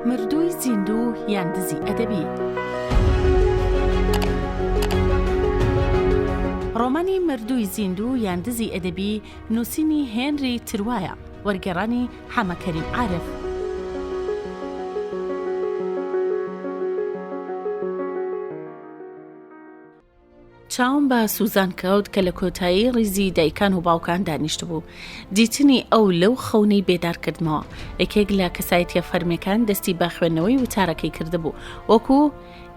مردووی زیندوو یان دزی ئەدەبی ڕۆمانی مردووی زیندوو یان دزی ئەدەبی نووسینی هێنری تروایە وەرگێڕانی حەمەکەریم عارف چاوم بە سوزان کەوت کە لە کۆتایی ڕیزی دایکان و باوکان دانیشتبوو دیتنی ئەو لەو خەونەی بێدار کردمەوە یەکێک لە کەسایەتە فەرمیەکان دەستی بە خوێندنەوەی وتارەکەی کردبوو وەکو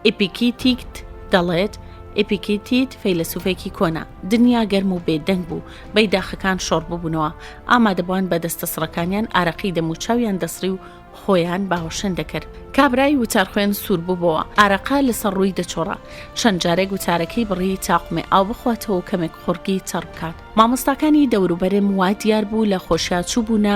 ئپیکیتیکت دەڵێت ئپیکیتیت فەیلەسوفێکی کۆنا دنیا گەرم و بێدەنگ بوو بەی داخەکان شۆڕ ببوونەوە ئامادەبووان بە دەستە سڕەکانیان ئارەقی دەموچاویان دەسڕی و خۆیان باوەشێن دەکرد. کابرای وتارخوێن سوور بووبەوە، ئارەقە لەسەر ڕووی دەچۆڕا. چەند جارێک وتارەکەی بڕی تا قمێ ئاو بخواتەوە و کەمێک قوڕگی تەڕ بکات. مامۆستاکانی دەوروبەرم وا دیار بوو لە خۆشیا چووبوونە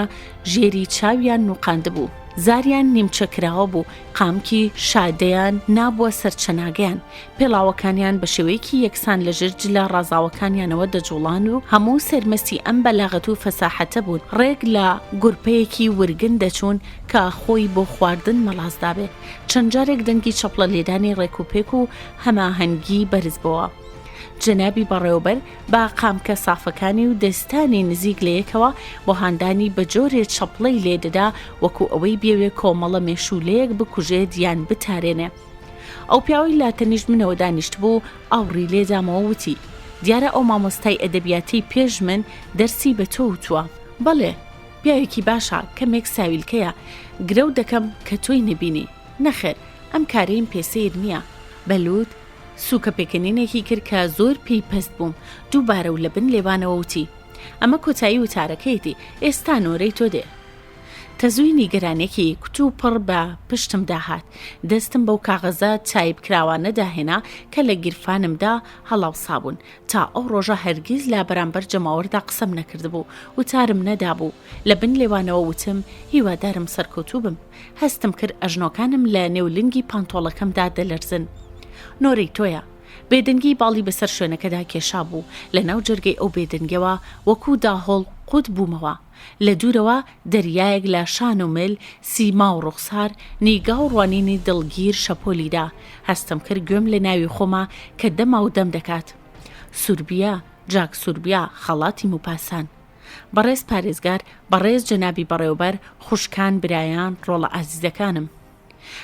ژێری چاویان نووقاندبوو. زاریان نیمچە کراوە بوو، قامکی شادەیان نابووە سەر چەناگەیان. پێڵاوەکانیان بە شێوەیەکی یەکسان لە ژێر جلە ڕازاوەکانیانەوە دەجوڵان و هەموو سەرمەستی ئەم بەلاغەت و فەساحەتە بوون ڕێک لە گورپەیەکی ورگن دەچوون کە خۆی بۆ خواردن مەڵاسدابێ چەند جارێک دەنگی چەپڵە لێدانی ڕێک و پێک و هەماهەنگی بەرز بووە. جەنابی بەڕێوبەر با قامکە سافەکانی و دەستانی نزیک لە یەکەوە بۆ هاندانی بە جۆرێ چەپڵەی لێدەدا وەکو ئەوەی بێوێ کۆمەڵە مێشولەیەک بکوژێت یان بتارێنێ. ئەو پیاوەی لە تەنیشت منەوە دانیشتبوو ئاوڕی لێدامەوە وتی، دیارە ئەو مامۆستای ئەدەبیاتەی پێش من دەرسی بە تۆ وتووە. بەڵێ، پیاوێکی باشە، کەمێک ساویلکەیە، گرەو دەکەم کە تۆی نەبینی. نەخێر، ئەم کارەیم پێ سەیر نییە. بە لووت سووکە پێکەنینێکی کرد کە زۆر پێی پەست بووم، دووبارە و لە بن لێوانەوە وتی، ئەمە کۆتایی وتارەکەیەتی، ئێستا نۆرەی تۆ دێ. تەزووی نیگەرانێکی کوتوپڕ بە پشتمدا هات، دەستم بەو کاغەزە تایپکراوانەدا هێنا کە لە گیرفانمدا هەڵاوسابوون، تا ئەو ڕۆژە هەرگیز لە بەرامبەر جەماوەردا قسەم نەکردبوو، وتارم نەدابوو، لە بن لێوانەوە وتم، هیوادارم سەرکەوتوو بم. هەستم کرد ئەژنۆکانم لە نێو لنگی پانتۆڵەکەمدا دەلەرزن. نۆرەی تۆیە. بێدەنگی باڵی بەسەر شوێنەکەدا کێشابوو، لەناو جەرگەی ئەو بێدەنگییەوە وەکوو داهۆڵ قووت بوومەوە. لە دوورەوە دەریایەک لە شان و مل، سیما و ڕوخسار، نیگا و ڕوانینی دڵگیر شەپۆلی دا. هەستم کرد گوێم لە ناوی خۆمە کە دەما و دەم دەکات. سوربیا، جاک سوربیا، خەڵاتی موپاسان. بەڕێز پارێزگار، بەڕێز جەنابی بەڕێوەبەر، خوشکان، برایان، ڕۆڵە ئازیزەکانم.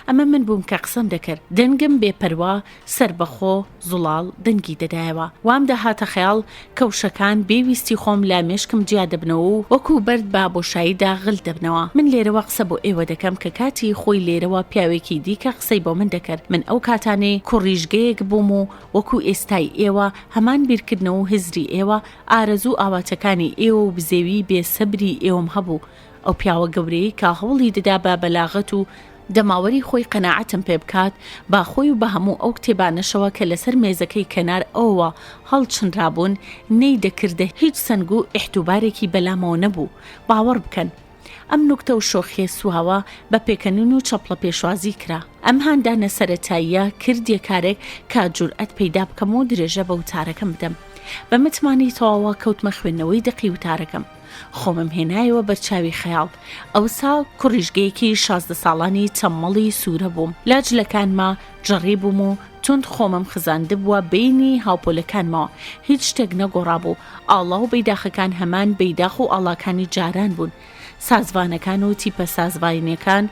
ئەمە من بووم کە قسەم دەکرد، دەنگم بێ پەروا، سەربەخۆ، زوڵاڵ، دەنگی دەدایەوە. وام دەهاتە خەیاڵ کە وشەکان بێ ویستی خۆم لە مێشکم جیا دەبنەوە و وەکوو بەرد بە بۆشاییدا غل دەبنەوە. من لێرەوە قسە بۆ ئێوە دەکەم کە کاتی خۆی لێرەوە پیاوێکی دیکە قسەی بۆ من دەکرد. من ئەو کاتانەی کوڕیژگەیەک بووم و وەکوو ئێستای ئێوە، هەمان بیرکردنەوە و هزری ئێوە، ئارەزوو و ئاواتەکانی ئێوە و بزێوی بێ سەبری ئێوەم هەبوو. ئەو پیاوە گەورەیەی کە هەوڵی دەدا بە بەلاغەت و جەماوەری خۆی قەناعەتم پێ بکات، با خۆی و بە هەموو ئەو کتێبانەشەوە کە لەسەر مێزەکەی کەنار ئەوەوە هەڵچنرابوون، نەیدەکردە هیچ سەنگ و ئیحتوبارێکی بەلامەوە نەبوو، باوەڕ بکەن. ئەم نوکتە و شۆخیە سواوە بە پێکەنین و چەپڵە پێشوازی کرا. ئەم هاندانە سەرەتاییە کردیە کارێک کە جورئەت پەیدا بکەم و درێژە بە وتارەکەم بدەم. بە متمانەی تەواوە کەوتمە خوێندنەوەی دەقی وتارەکەم. خۆمم هێنایەوە بەرچاوی خەیاڵ. ئەوسا کوڕیژگەیەکی شازدە ساڵانی چەممەڵی سوورە بووم. لە جلەکانما جڕی بووم و توند خۆمم خزاندبووە بەینی هاوپۆلەکانمەوە. هیچ شتێک نەگۆڕابوو. ئاڵا و بەیداخەکان هەمان بەیداخ و ئاڵاکانی جاران بوون. سازڤانەکان و تیپە سازڤاینەکان،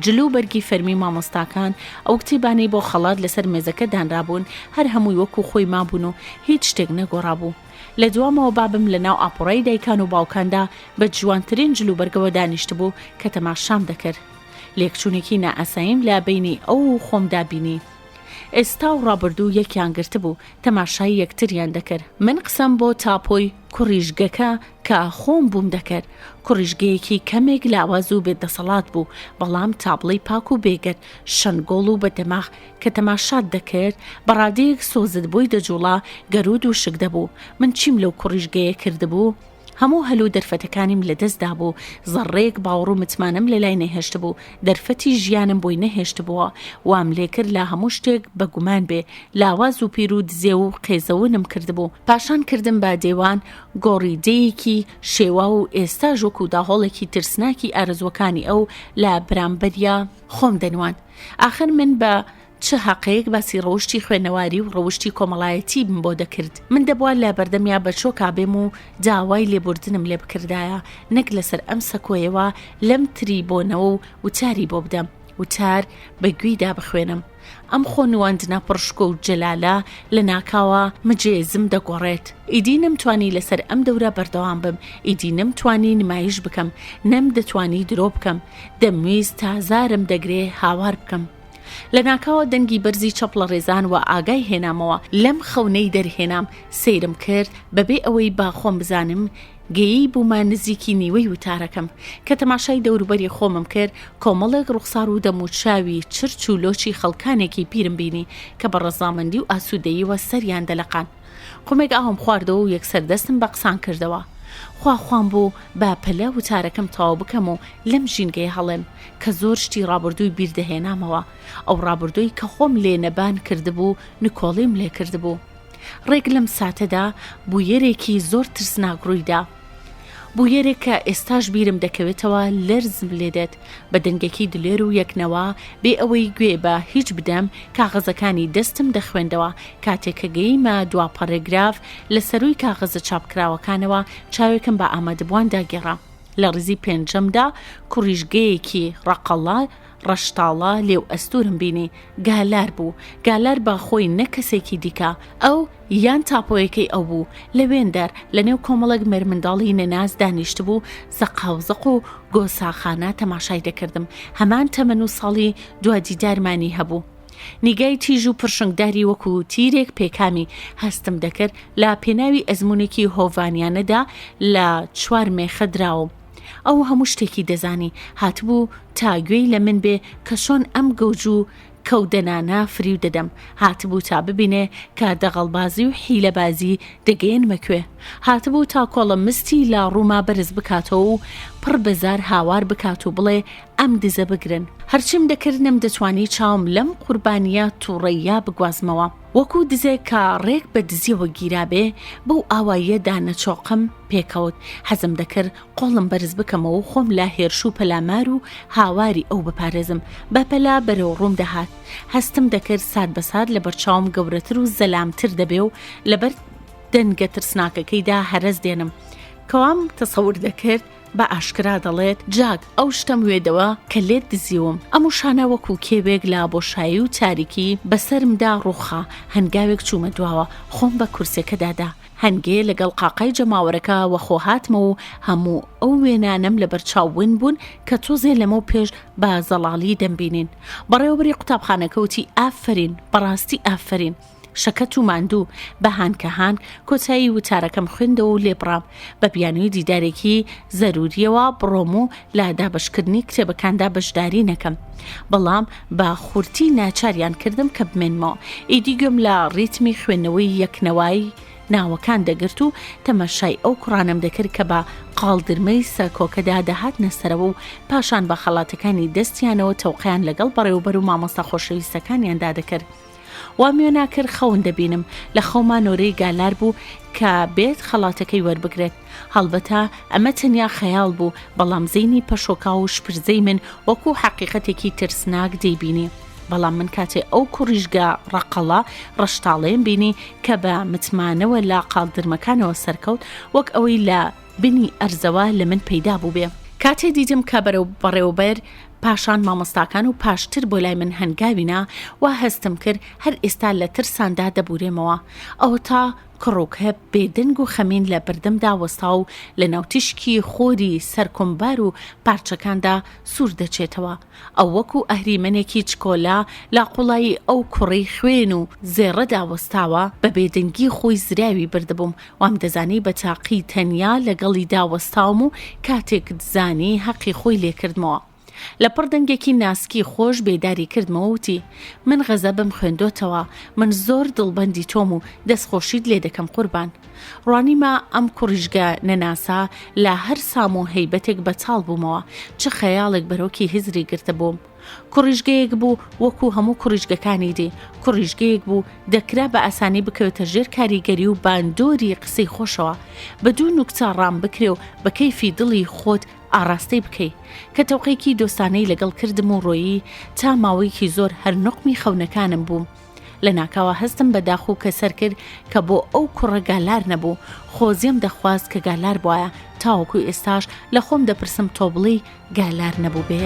جل و بەرگی فەرمی مامۆستاکان، ئەو کتێبانەی بۆ خەڵات لەسەر مێزەکە دانرابوون، هەر هەمووی وەکوو خۆی مابوون و هیچ شتێک نەگۆڕابوو. لە دوامەوە بابم لە ناو ئاپۆڕای دایکان و باوکاندا بە جوانترین جلوبەرگەوە دانیشتبوو کە تەماشام دەکرد لێکچوونێکی نائاساییم لە بینی ئەو و خۆمدا بینی ئێستا و ڕابردوو یەکیان گرتبوو تەماشای یەکتریان دەکرد من قسەم بۆ تاپۆی کوڕیژگەکە کە خۆم بووم دەکرد کوڕیژگەیەکی کەمێک لاواز و بێدەسەڵات بوو بەڵام تابڵی پاک و بێگەت شەنگۆڵ و بە دەماغ کە تەماشات دەکرد بە ڕادەیەک سۆزت بۆی دەجوڵا گەرود و شک دەبوو من چیم لەو کوڕیشگەیە کردبوو هەموو هەل و دەرفەتەکانیم لەدەستدا بوو زەڕێک باوەڕ و متمانەم لە لای نەهێشت بوو دەرفەتی ژیانم بۆی نەهێشت بووە وام لێکرد لا هەموو شتێک بە گومان بێ لاواز و پیر و دزێ و قێزەونم کردبوو پاشان کردم بە دێوان گۆڕی دەیەکی شێوا و ئێستا ژۆک و داهۆڵێکی ترسناکی ئارزوەکانی ئەو لە برامبەریا خۆم دەنواند ئاخر من بە چ هەقەیەک باسی ڕەوشی خوێنەواری و ڕەوشی کۆمەڵایەتی بم بۆ دەکرد من دەبووە لە بەردەمیا بە چۆکا بێم و داوای لێبوردنم لێ بکردایە نەک لەسەر ئەم سەکۆیەوە لەم تری بۆنەوە و وتاری بۆ بدەم وتار بە گوێیدا بخوێنم ئەم خۆ نواندنە پڕشکۆ و جەلالە لە ناکاوە مجێزم دەگۆڕێت ئیدی نەمتوانی لەسەر ئەم دەورە بەردەوام بم ئیدی نەمتوانی نمایش بکەم نەم دەتوانی درۆ بکەم دەمویست تا زارم دەگرێ هاوار بکەم. لە ناکاوە دەنگی بەرزی چەپڵە ڕێزان و ئاگای هێنامەوە لەم خەونەی دەرهێنام سەیرم کرد بەبێ ئەوەی با خۆم بزانم گەیی بوومە نزیکی نیوەی وتارەکەم کە تەماشای دەوروبەری خۆمم کرد کۆمەڵێک ڕوخسار و دەموچاوی چرچ و لۆچی خەڵکانێکی پیرم بینی کە بە ڕەزامەندی و ئاسوودەییەوە سەریان دەلەقان قومێک ئاوم خواردەوە و یەکسەر دەستم بە قسان کردەوە خوا خوام بوو بە پەلە وتارەکەم تەواو بکەم و لەم ژینگەی هەڵێم کە زۆر شتی ڕابردووی بیردەهێنامەوە ئەو ڕابردووی کە خۆم لێ نەبان کردبوو نکۆڵیم لێ کردبوو ڕێک لەم ساتەدا بوویەرێکی زۆر ترسناک ڕوویدا بویەرێک کە ئێستاش بیرم دەکەوێتەوە لەرزم لێدێت بە دەنگێکی دلێر و یەکنەوە بێ ئەوەی گوێ بە هیچ بدەم کاغەزەکانی دەستم دەخوێندەوە کاتێک کە گەیمە دوا پەڕێگراف لە سەروی کاغەزە چاپکراوەکانەوە چاوێکم بە ئامادەبووان داگێڕا لە ڕیزی پێنجەمدا کوڕیژگەیەکی ڕەقەڵا ڕەشتاڵە لێو ئەستورم بینی گالار بوو گالار با خۆی نە کەسێکی دیکە ئەو یان تاپۆیەکەی ئەو بوو، لە وێندەر، لە نێو کۆمەڵێک مێرمنداڵی نەناس دانیشتبوو، زەقاوزەق و گۆساخانە تەماشای دەکردم، هەمان تەمەن و ساڵی دوادیدارمانی هەبوو. نیگای تیژ و پرشنگداری وەکو تیرێک پێکامی هەستم دەکرد، لە پێناوی ئەزمونێکی هۆڤانیانەدا لە چوار مێخە دراوم. ئەو هەموو شتێکی دەزانی، هاتبوو تا گوێی لە من بێ کە چۆن ئەم گەوج و کەو دەنانا فریو دەدەم هاتبوو تا ببینێ کە دەغەڵبازی و حیلەبازی دەگەیەنمە کوێ هاتبوو تا کۆڵە مستی لا ڕووما بەرز بکاتەوە و پڕ بەزار هاوار بکات و بڵێ ئەم دزە بگرن هەرچیم دەکرد نەم دەتوانی چاوم لەم قوربانیە تووڕەیە بگوازمەوە وەکو دزێک کە ڕێک بە دزیەوە گیرابێ بەو ئاواییە دانەچۆقم پێکەوت حەزم دەکرد قۆڵم بەرز بکەمەوە و خۆم لە هێرش و پەلامار و هاواری ئەو بپارێزم، بە پەلە بەرەو ڕووم دەهات. هەستم دەکرد سات بە سات لە بەرچاوم گەورەتر و زەلامتر دەبێ و لە بەر دەنگە ترسناکەکەیدا هەرەس دێنم. کەوام تەسەور دەکرد بە ئاشکرا دەڵێت، جاک، ئەو شتەم وێدەوە کە لێت دزیوم. ئەم وشانە وەکوو کێوێک لە بۆشایی و تاریکی بە سەرمدا ڕووخا. هەنگاوێک چوومە دواوە. خۆم بە کورسێکەدا دا. هەنگێ لەگەڵ قاقای جەماوەرەکە وەخۆ هاتمەوە و هەموو ئەو وێنانەم لە بەرچاو ون بوون کە تۆزێ لەمەو پێش بە زەڵاڵی دەمبینین بەڕێوەبەری قوتابخانەکە وتی ئافەرین بەڕاستی ئافەرین شەکەت و ماندوو بە هانکە هانک کۆتایی وتارەکەم خوێندەوە و لێبڕام بە بیانووی دیدارێکی زەرووریەوە بڕۆم و لە دابەشکردنی کتێبەکاندا بەشداری نەکەم بەڵام بە خورتی ناچاریان کردم کە بمێنمەوە ئیدی گوێم لە ڕیتمی خوێندنەوەی یەکنەوەی ناوەکان دەگرت و تەماشای ئەو کوڕانم دەکرد کە بە قاڵدرمەی سەرکۆکەدا دەهات نەسەرەوە و پاشان بە خەڵاتەکانی دەستیانەوە تەوقیان لەگەڵ بەڕێوبەر و مامۆستا خۆشەویستەکانیاندا دەکرد وام وێ ناکرد خەون دەبینم لە خەوما نۆرەی گالار بوو کە بێت خەڵاتەکەی وەربگرێت هەڵبەتە ئەمە تەنیا خەیاڵ بوو بەڵام زینی پەشۆکا و شپرزەی من وەکو حەقیقەتێکی ترسناک دەیبینی بەڵام من کاتێ ئەو کوڕیشگە ڕقەڵە ڕەشتاڵێن بینی کە بە متمانەوە لە قالدرمەکانەوە سەرکەوت وەک ئەوەی لە بنی ئەرزەوە لە من پەیدا بووبێ. کاتێ دیتم کە بەرەو بەڕێوەبەر، پاشان مامۆستاکان و پاشتر بۆ لای من هەنگاوینا، وا هەستم کرد هەر ئێستا لە ترساندا دەبوورێمەوە. ئەوەتا کڕوکە بێ دەنگ و خەمین لە بەردەمدا وەستا و لە ناو تیشکی خۆری سەر کۆمبار و پارچەکاندا سوور دەچێتەوە. ئەو وەکو ئەهریمەنێکی چکۆلە لە قوڵایی ئەو کوڕی خوێن و زێڕەدا وەستاوە، بە بێدەنگی خۆی زراوی بردبووم، وامدەزانی بە تاقی تەنیا لەگەڵیدا وەستاوم و کاتێک دزانی هەقی خۆی لێکردمەوە. لە پڕ دەنگێکی ناسکی خۆش بێداری کردمەوە وتی، من غەزەبم خوێندۆتەوە، من زۆر دڵبەندی تۆم و دەستخۆشیت لێدەکەم قوربان. ڕوانیمە ئەم کوڕیژگە نەناسە لە هەر سام و هەیبەتێک بەتاڵ بوومەوە چ خەیاڵێک بەرۆکی هزری گرتە بووم کوڕیژگەیەک بوو وەکو هەموو کوڕیژگەکانی دی کوڕیژگەیەک بوو دەکرا بە ئاسانی بکەوێتە ژێر کاریگەری و باندۆری قسەی خۆشەوە بە دوو نوکتا ڕام بکرێ و بە کەیفی دڵی خۆت ئاراستەی بکەی کە تەوقەیەکی دۆستانەی لەگەڵ کردم و ڕۆیی تا ماوەیەکی زۆر هەر نقمی خەونەکانم بووم لە ناکاوە هەستم بە داخ و کەسەر کرد کە بۆ ئەو کوڕە گالار نەبوو خۆزیێم دەخواست کە گالار بواە تاوەکو ئێستاش لە خۆم دەپرسم تۆ بڵی گالار نەبوو بێ.